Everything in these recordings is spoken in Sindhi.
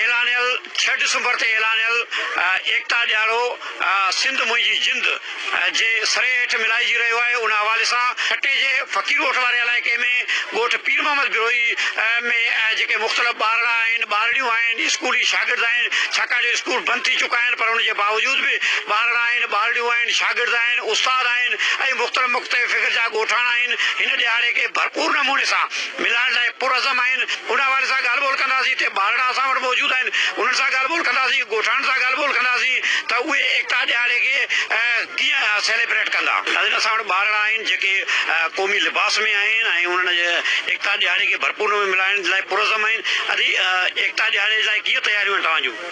اعلانيل ڇهه ڊسمبر تي اعلانيل ايڪتا ڏياڙو سنڌ منهنجي جند جي سري هيٺ ملهائجي رهيو آهي ان حوالي سان ٺٽي جي فقير ڳوٺ واري علائقي ۾ ڳوٺ پير محمد بروهي ۾ جيڪي مختلف ٻارڙا آهن ٻارڙيون آهن اسڪولي شاگرد آهن ڇاڪاڻ جو اسڪول بند ٿي چڪا آهن پر ان جي باوجود به ٻارڙا آهن ٻارڙيون آهن شاگرد آهن استاد آهن ۽ مختلف مختلف فڪر جا ڳوٺاڻا آهن هن ڏهاڙي کي ڀرپور نموني سان ملائڻ لاء پرعزم آهن، ان حوالي سان ڳالهه ٻولهه ڪنداسين، ٽي ٻارڙا اسان وٽ موجود آهن، انهن سان ڳالهه ٻولهه ڪنداسين، ڳوٺاڻن سان ڳالهه ٻولهه ڪنداسين ته اهي ايڪتا ڏهاڙي کي ڪيئن سيليبريٽ ڪندا. ناظرين اسان وٽ ٻارڙا آهن جيڪي قومي لباس ۾ آهن ۽ انهن ايڪتا ڏهاڙي کي ڀرپور نموني ملائڻ لاء پرعزم آهن، ادي ايڪتا ڏهاڙي لاء ڪيئن تياريون آهن توهان جون؟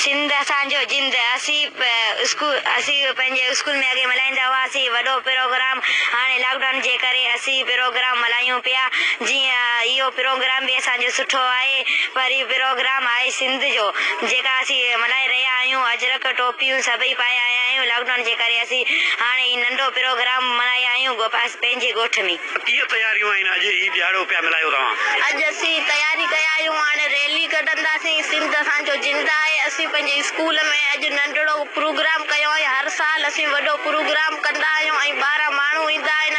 سنڌ اسان جو جند اسين پنهنجي اسڪول ۾ اڳي ملهائيندا هئاسين وڏو پروگرام هاڻي لاڪ ڊائون جي ڪري اسين پروگرام ملهايون پيا جي اهو پروگرام به اسان جو سٺو آهي پر هي پروگرام آهي سنڌ جو جيڪا اسين ملهائي رهيا آهيون اجرڪ ٽوپيون سڀئي پايا آيا آهيون لاڪ ڊائون جي ڪري اسين هاڻي هي ننڍو پروگرام ملهايا آهيون پنهنجي ڳوٺ ۾. ڪيئن تياريون آهن اڄ هي ڏيهاڙو پيا ملهايو توهان. اڄ اسين تياري ڪيا آهيون هاڻي ريلي ڪڍنداسين سنڌ اسان جو زنده آهي اسين پنهنجي اسڪول ۾ اڄ ننڍڙو پروگرام ڪيو آهي هر سال اسين وڏو پروگرام ڪندا آهيون ۽ ٻاهران ماڻهو ايندا آهن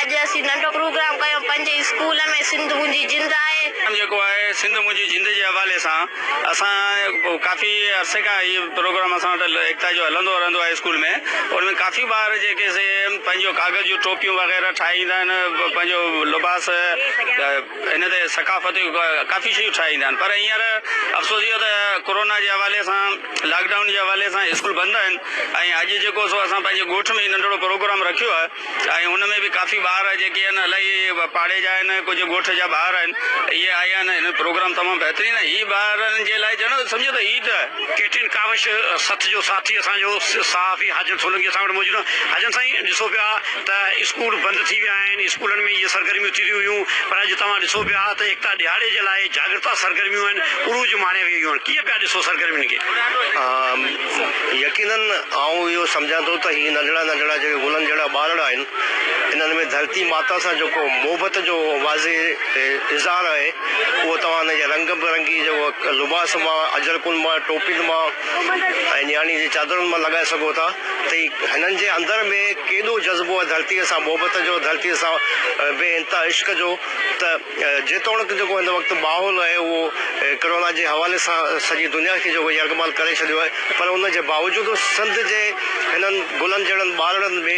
اڄ اسين ننڍو پروگرام ڪيو پنهنجي اسڪول ۾ سنڌ منهنجي زنده آهي. جيڪو آهي سنڌ منهنجي زنده جي حوالي سان. اسان ڪافي عرصي کان هي پروگرام اسان وٽ ايڪتا جو هلندو رهندو آهي اسڪول ۾ ان ۾ ڪافي ٻار جيڪي سي پنهنجو ڪاغذ جون ٽوپيون وغيره ٺاهي ايندا آهن پنهنجو لباس ان تي ثقافتي ڪافي شيون ٺاهي ايندا آهن پر هينئر افسوس اهو ته ڪورونا جي حوالي سان لاڪ ڊائون جي حوالي سان اسڪول بند آهن ۽ اڄ جيڪو سو اسان پنهنجي ڳوٺ ۾ ننڍڙو پروگرام رکيو آهي ۽ ان ۾ به ڪافي ٻار جيڪي آهن الائي پاڙي جا آهن ڪجهه ڳوٺ جا ٻار آهن اهي آيا آهن هن پروگرام تمام بهترين آهي هي ٻارن جي لاء ڄڻ سمجهو ته عيد آهي. ڪيٽرين ڪاوش سٿ جو ساٿي اسان جو صحافي حاجن سولنگي اسان وٽ موجود آهن حاجن سائين ڏسو پيا ته اسڪول بند ٿي ويا آهن اسڪولن ۾ اهي سرگرميون ٿي رهيون هيون پر اڄ توهان ڏسو پيا ته ايڪتا ڏهاڙي جي لاء جاڳرتا سرگرميون آهن عروج ماڻي رهيون آهن ڪيئن پيا ڏسو سرگرمين کي. يقينن آئون اهو سمجهان ٿو ته هي ننڍڙا ننڍڙا جيڪي گلن جهڙا ٻارڙا آهن، انهن ۾ ڌرتي ماتا سان جيڪو محبت جو واضح اظهار آهي، اهو توهان انهن جي رنگ برنگي جيڪو لباس مان، اجرڪن مان، ٽوپين مان ۽ نياڻي جي چادرن مان لڳائي سگهو ٿا ته هي هنن جي اندر ۾ ڪيڏو جذبو آهي ڌرتيء سان محبت جو، ڌرتيء سان بي انتها عشق جو ته. جيتوڻڪ جيڪو هن وقت ماحول آهي اهو ڪرونا جي حوالي سان سڄي دنيا کي جيڪو يرغمال ڪري ڇڏيو آهي پر ان جي باوجود سنڌ جي هنن گلن جهڙن ٻارڙن ۾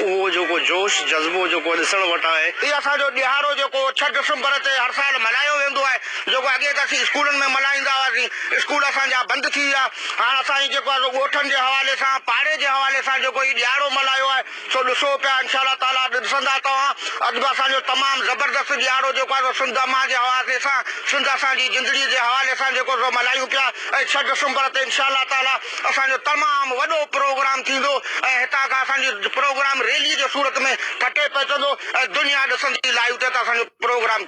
اهو جيڪو جوش جذبو جيڪو ڏسڻ وٽان آهي. هي اسان جو ڏهاڙو جيڪو ڇهه ڊسمبر تي هر سال ملهايو ويندو آهي جيڪو اڳي ته اسين اسڪولن ۾ ملهائيندا هئاسين اسڪول اسان جا بند ٿي ويا هاڻ اسان جيڪو آهي سو ڳوٺن جي حوالي سان پاڙي جي حوالي سان جيڪو هي ڏهاڙو ملهايو آهي. سو ڏسو پيا انشاء الله تعاليٰ ڏسندا توهان اڄ به اسان جو تمام زبردست ڏيهاڙو جيڪو آهي سو سنڌ امان جي حوالي سان سنڌ اسان جي زندڙي جي حوالي سان جيڪو سو ملهايون پيا ۽ ڇهه ڊسمبر تي انشاء الله تعاليٰ اسان جو تمام وڏو پروگرام ٿيندو ۽ هتان کان اسان جو پروگرام ريلي جي صورت ۾ ٺٽي پهچندو ۽ دنيا ڏسندي لائيو تي ته اسان جو پروگرام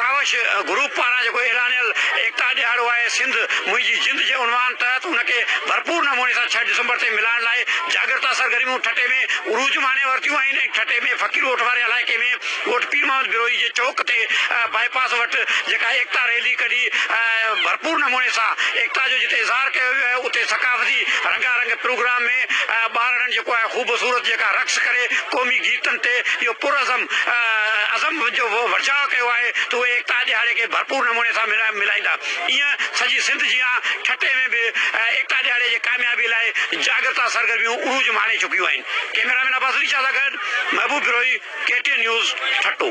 ڪاوش گروپ پاران جيڪو اعلانيل ايڪتا ڏهاڙو آهي سنڌ منهنجي جند جي عنوان تحت ان کي ڀرپور نموني سان ڇهه ڊسمبر تي ملهائڻ لاء جاڳرتا سرگرميون ٺٽي ۾ عروج ماڻي ورتيون آهن ۽ ٺٽي ۾ فقير ڳوٺ واري علائقي ۾ ڳوٺ پير محمد بروهي جي چوڪ تي بائي پاس وٽ جيڪا ايڪتا ريلي ڪڍي ڀرپور نموني سان ايڪتا جو جتي اظهار ڪيو ويو آهي اتي ثقافتي رنگا رنگ پروگرام ۾ ٻارڙن جيڪو آهي خوبصورت جيڪا رقص ڪري قومي گيتن تي اهو پرعزم عزم جو ورجاء ڪيو آهي ته اهي ايڪتا ڏهاڙي کي ڀرپور نموني سان ملهائيندا. ايئن سڄي سنڌ جيان ٺٽي ۾ به ايڪتا ڏهاڙي جي ڪاميابي لاء جاڳرتا سرگرميون عروج ماڻي چڪيون آهن. ڪئميرامين عباس علي شاهه سان گڏ Mehboob Brohi, K T N news, Thatta.